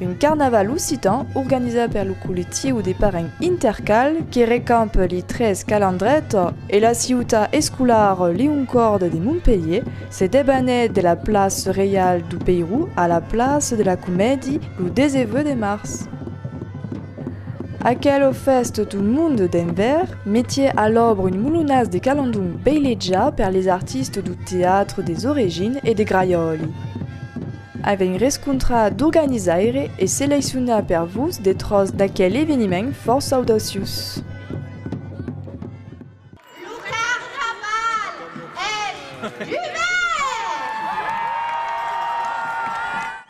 Un carnaval occitan organizat per lo collectiu de parents Intercal que recamp li tres calandrets e la ciutat escolar Liuncord de Montpelhier se debanèt de la place Reial du Peirou a la place de la Comèdi lo 19 de març. Aquelo fes tot un monde d'envèr, metié a l'òbra un molonàs de calandon beiletjat per les artistes du teatre des origines e de Graiòli. Avèm rescontrat d'organizaire e seleccionat per vos de tròç d'aquel eveniment fòrça audaciós. Lo carnaval es dubèrt!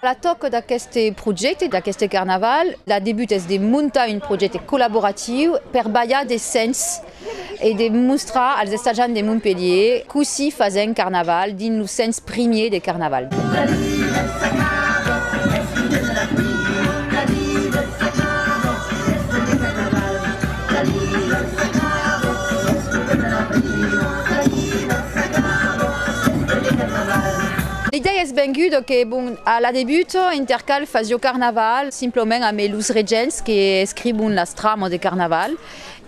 La tòca d'aqueste projècte, d'aqueste carnaval, la debut es de montar un projècte collaboratiu per balhar de sens e de mostrar als estatjants de Montpelhier cossí fasèm carnaval dins lo sens Primier de Carnaval. L'idèia es venguda que bon, a la debut Intercal fasió Carnaval simplement amé los regents que escribon las tramas de Carnaval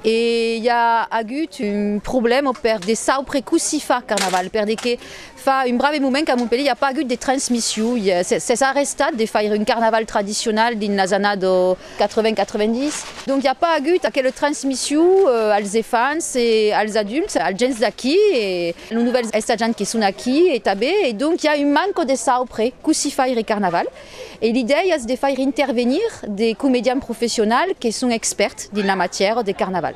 e i a agut un problèma per de saupre cossí far Carnaval perde que Fa un brave moment qu'a Montpelhier i a pas agut de transmission, s'es arrestat de faire un carnaval tradicional dins las annades 80-90, donc i a pas agut aquela transmission als efants e als adults, als gents d'aquí e los novèls estatjants que son aquí e tanben e donc i a un manco de saupre cossí faire carnaval e l'idèia es de faire intervenir de comedians professionals que son expèrts dins la matièra de carnaval.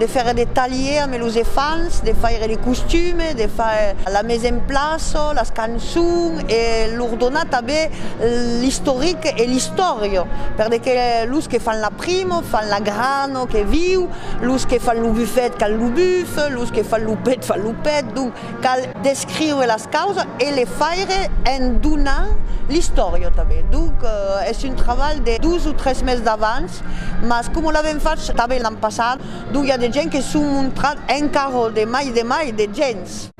de faire des talliers ame los efants, de faire les costumes, de faire la mise en place, las cançons e lor donar tanben l'istoric e l'istòria per de que los que fan la primo, fan la grano que viu, los que fan lo bufet, can lo buf, los que fan lo pet, fan lo pet, donc. Cal descriure las causas e le faire en donant l'istòria tanben. Donc es un trabalh de dos o tres mes d'avans, mas coma l'avèm fach tanben l'an passat, donc i a de gents que son montrat encara de mai de mai de gents.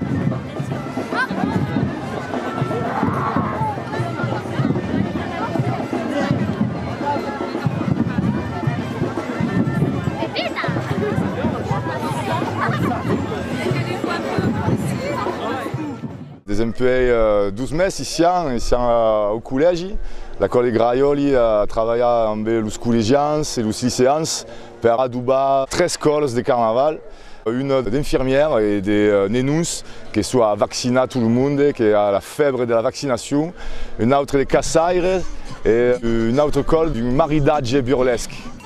Desempuèi dos mes i sián au collègi. La Còle Graiòli a travalhat ambe los collegians e los liceans per adobar tres còles de carnaval, una d'infirmièra e de nenons que soi a vaccinar tot lo monde, que a la fèbre de la vaccinacion, un autre de caçaires e un autre còle d'un maridatge burlesc.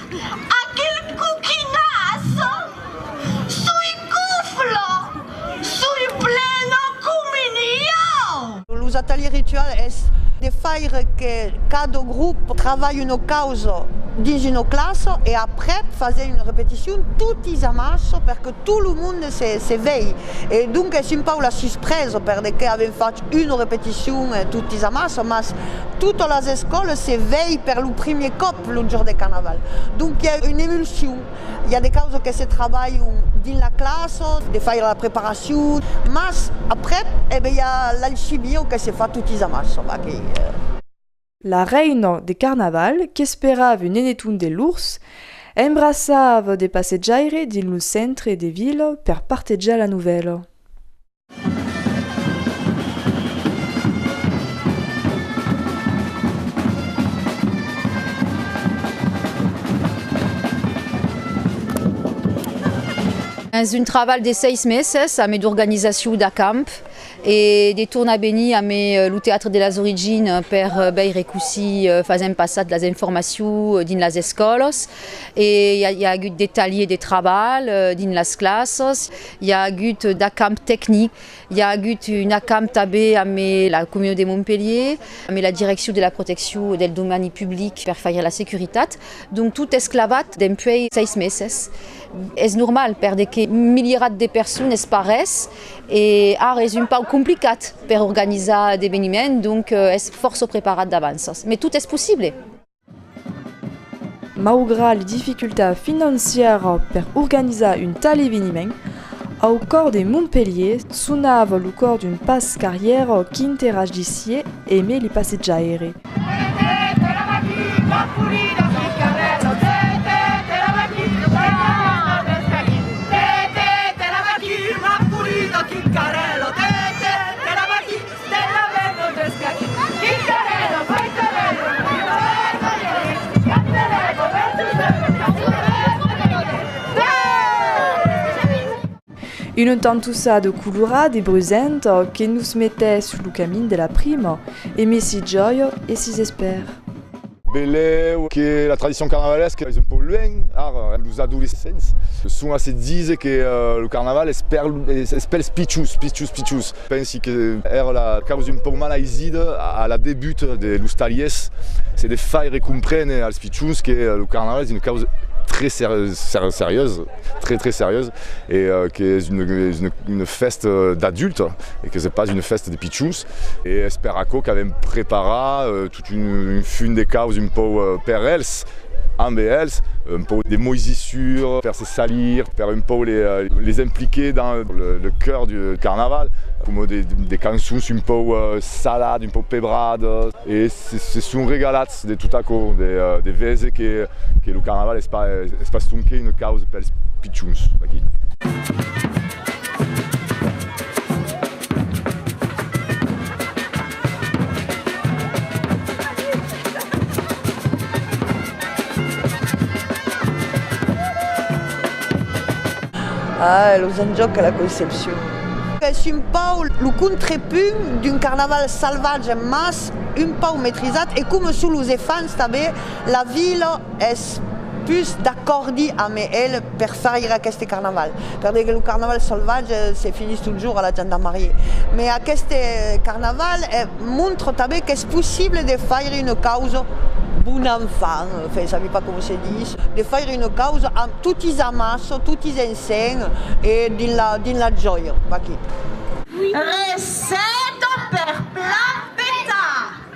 Aquel coquinàs soi cofla, soi plena coma niau! Los ateliers rituals es de faire que cada grop travalhe una causa dins una classa e aprèp fase una repeticion totis amàs per que tot lo monde se vei e donc es un pauc la suspresa per de que avèm fach una repeticion totis amàs mas totas las escòlas se vei per lo primièr còp. plongeon de carnaval. Donc i a una emulsion, i a de causes que se trabalhon dins la classa, de faire la preparacion, mas aprèp e ben i a l'alcibion que se fa totis amassa, va que. La reina de carnaval qu'esperava un eneton de lors, embraçava de passejaire dins lo centre de vila per partejar la novèla. Dins un trabalh de seis meses amé d'organizacion d'acamp e de tornar venir amé lo Teatre de las Origines per veire cossí fasèm passar las informacions dins las escòlas e i a agut de talhiers de trabalh dins las classes. I a agut d'acamp tecnic, i a agut un acamp tanben amb la Comunion de Montpelhier, amb la Direccion de la Proteccion del Domani Public per faire la securitat, donc tot es clavat dempuèi 6 meses. Es normal perque un milierat de personnes es pas res e ara es un pauc complicat per organizar d'eveniments, donc es fòrça preparat d'avanças, mai tot es possible. Maugrat les dificultats financièras per organizar un tal eveniment, au còr de Montpelhier sonava lo còr d'un pas qu'arrièra qu'interagissié eme li passejaire. Una tantussa de colorat e brusent que nos metè sul camin de la prima e me si jòio e si s'espèr. Velèu que la tradicion carnavalesca es un pauc luènh ara, los adolescents son a se díser que lo carnaval es pels pichus, pichus, pichus. Pensi que èra la causa un pauc malaisida a la debut de los talhièrs, se de faire compréner als pichons que lo carnaval es una causa très serieusa, très, très serieusa e qu'es una fèsta d'adultes e que es pas una fèsta de pichons e es per aquò qu'avèm preparat Un fum de caus un pauc per els, amb els, un pauc de moisissure per se salir, per un pauc les impliquer dans le cœur du carnaval, coma de cançons un pauc saladas, un pauc pebradas, e se son regalats de tot aquò, de veser que lo carnaval es pas sonque una causa pels pichons d'aquí. Ah, los enjòcs a la Concepcion! Es un pauc lo contrepunt d'un carnaval salvatge mas un pauc metrizat e coma son los efants tanben la vila es pus d'acòrdi amb el. per faire aqueste carnaval perque lo carnaval salvatge se finís totjorn a la gendarmerie mais aqueste carnaval montre tanben qu'es possible de faire une cause bon enfant enfin je ne sais pas comment se dit de faire une cause amb totis amas totis ensenh e dins la dins la jòia vaquí. Receta per plat petar.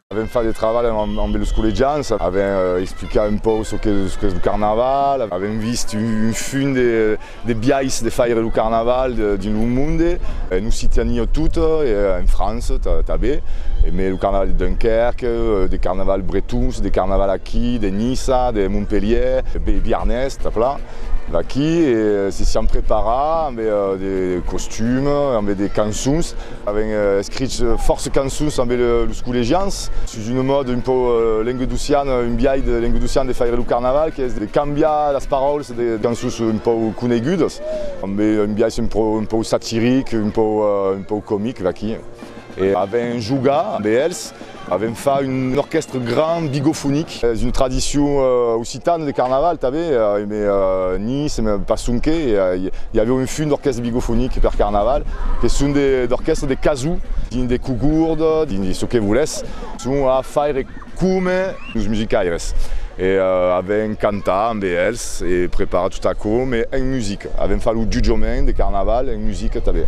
Avèm fach de travalh ambe los collegians, avèm explicat un pauc çò qu'es lo carnaval, avèm vist un funt de biais de faire lo carnaval dins lo monde, en Occitània tota e en França tanben, emé lo carnaval de Dunquèrque, de carnavals bretons, de carnavals aquí, de Niça, de Montpelhièr, de Biarnés, tà plan, d'aquí e se siam preparats ambe de costumes, ambe de cançons. Avèm escrich fòrça cançons ambe los collegians sus una mòda un pauc lenguedociana, un biais de lenguedocian de faire lo carnaval qu'es de cambiar las paraulas de cançons un pauc conegudas ambe un biais un pauc satiric, un pauc comic vaquí e avèm jogat ambe els. Avèm fach un orquèstre grand bigofonic, es una tradicion occitana de carnaval tanben, emè Nice, emè pas sonque, i avèu un fum d'orquèstre bigofonic per carnaval, que son d'orquèstres de casò, dins de cogurds, dins çò que volètz, son a faire coma. Los musicaires e avèm cantat amb eles e preparat tot aquò mai en musica. Avèm fach lo jutjament de carnaval en musica tanben.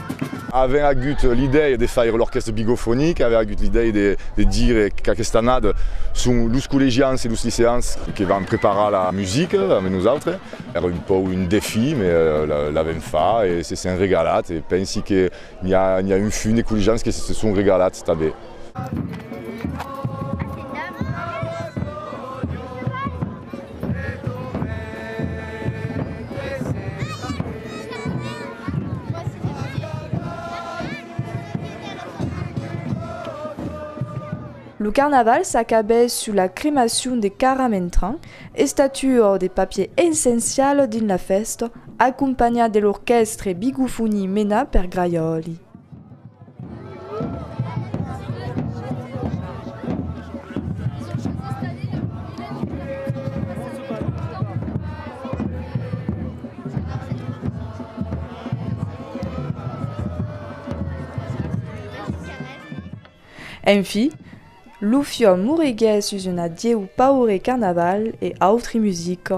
Avèm agut l'idèia de faire l'orchestre bigofonic, avèm agut l'idèia de dire qu'aquesta annada son los collegians e los liceans que van preparar la musica amb nosautres. Èra un pauc un defí, mai l'avèm fach e se sèn regalat e pensi que n'i a un funt de collegians que se son regalats tanben. Lo carnaval s'acabèt sus la cremacion de Cara Mentran, estatuor de papier essencial dins la fèsta, acompanhat de l'orquèstre Bigofoni menat per Graiòli. En fi, lo fiòm moriguèt sus un adieu paure carnaval e autri musica.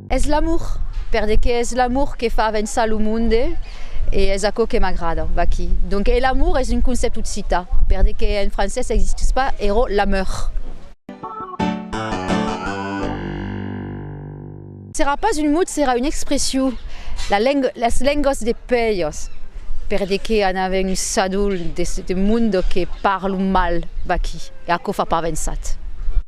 Es l'amor, perdeque es l'amor que fa avençar lo monde e es aquò que m'agrada vaqui. Donc e l'amor es un concèpt occita, perdeque en francés existís pas ero l'ameur. Serà pas un mot, serà una expression, la lenga, las lengas de pèias, perdeque an avèn un sadol de monde que parlan mal vaqui e aquò fa pas avençat.